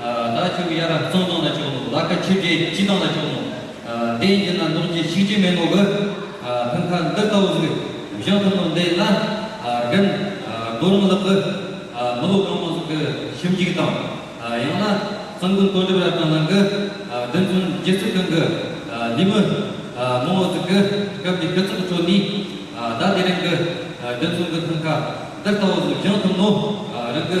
ལ་བཅུག་གཡའ་ར་བཙོང་དོང་ལ་བཅུག་ནོ་ལ་ཁ་ཆུ་བྲེ་སྐྱི་ནོང་ལ་བཅུག་ནོ། དེ་ཡིན་ན་མདོག་ཅི་ཤིག་ཅི་མེད་ནོ་གི། ཕུན་ཁ་འདི་ལྟ་བུ་ཟིག་བཞག་ཐུབ་ནོ་འདི་ཡིན་ན། རྒན། རྡོ་རིང་ལགས་ཀི། མི་ལོ་གང་མང་ཟིག་གི་ཞིབ་འཇུག་དང། ཡང་ན། གསང་དགོན་དོ་འགྲེལ་རབ་དང་ལང་གི། བདེན་རྫུན་རྗེ་བཙུན་གང་གི། ཉིན་མོ། མང་བོ་ཟིག་གི། སྐབས་འདི་ཕེབས་ཚོགས་ཁྲོད་ནས། ད་དེ་རིང་གི། བདེན་རྫུན་གི་ཕུན་ཁ་འདི་ལྟ་བུ་ཟིག་བཞག་ཐུབ་ནོ། རང་གི།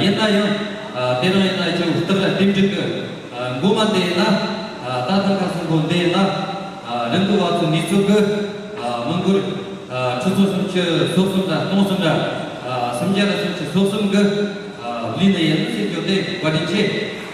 ཡིན་ན་ཡང། དེ་རང་ཡིན་ན་ཅིག་བསྟི་བར་བསྟིམ་འཇུག་གི། མགུར་མ་དེ་ཡིན་ན། ད་ལྟར་ཁ་གསུམ་པོ་འདི་ཡིན་ན། རིམ་གྱིས་བ་ཚོ་ནི་ཚོ་གི། མི་མགུར། ཁྲི་ཚོ་སུམ་ཅུ་སོ་གསུམ་དང་སྟོང་གསུམ་དང། སུམ་བརྒྱ་དང་སུམ་ཅུ་སོ་གསུམ་གི། ལུས་འདི་ཡིན་ན་སྲིད་འབྱོར་ཏེ་བཀའ་དྲིན་ཆེ།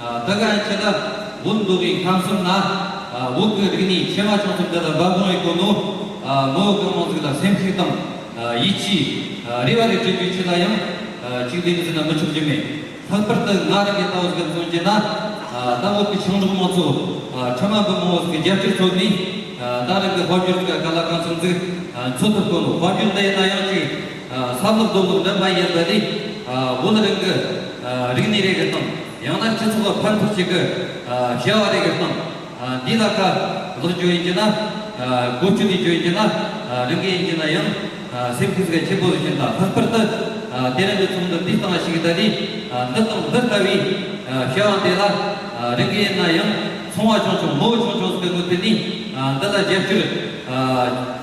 ད་ག་ཡང་ཁྱེད་ལ་འུར་འདུག་གི་ཁམས་གསུམ་ན་འུག་གི་རིགས་ནི་ཕྱེ་མ་ཆུང་ཆུང་འདི་ལ་འབབ་དགོངས་ཡོད་དགོས་འདུག་མོའུ་གང་མང་ཚིག་ལ་སེམས་ཚིག་དང་ཡིད་ཆེས་རེ་བ་རེ་བྱེད་རྒྱུ་ཁྱེད་ལ་ཡང་གཅིག་འདི་འདི་ཟེར་ན་མི་ཆོག་རྒྱུ་མེད་ལྷག་པར་དུ་ང་རང་གི་ལྟ་བ་ཟེར་མཚོན་བྱས་ན་ད་འུག་གི་ཆུང་གྲོགས་མང་ཚོ་ཕྲ་མ་འབུ་མང་བོ་ཟིག་གི་རྒྱབ་སྐྱོར་ཚོར་ནས་ད་རང་གི་དཔར་རྒྱུད་ཟེར་ག་ག་ལ་གང་སོང་ཟིག་འཚོལ་ཐུབ་དགོས་འདུག་དཔར་རྒྱུད་འདི་ཡིན་ན་ཡང་ཅིག། ས་ཐོབ་རྡོ་ཐོབ་ལོན་པ་ཡིན་པ་ནི། བོད་རང་གི་རིག་གནས་རེ་གི་སྟངས། ཡང་ན་སྤྱི་ཚོགས་ཕར་འཕུར་བྱེད་གི་བྱ་བ་རེ་གི་སྟངས། འདི་ལ་ཁ་ལག་འཇོག་ཡིན་གྱི་ན། སྒོ་ཕྱུགས་ནས་འཇོག་ཡིན་གྱི་ན། རང་གི་ཡིན་གྱི་ན་ཡང། སེམས་ཁུར་ཟེར་བ་ཆེན་པོ་བཞིན་དང་ལྷག་པར་དུ། དེ་རིང་གི་ཚོགས་འདུ་འདི་སྟངས་ཤིག་ད་ནི། འདི་དང་འདི་ལྟ་བུའི་བྱ་བ་འདི་ལ། རང་གི་ཡིན་ན་ཡང་ཚོང་བ་ཆུང་ཆུང་མོ་བོ་ཆུང་ཆུང་ཟེར་གི་དངུལ་དེ་ནི། འདི་ལ་རྒྱབ་སྐྱོར།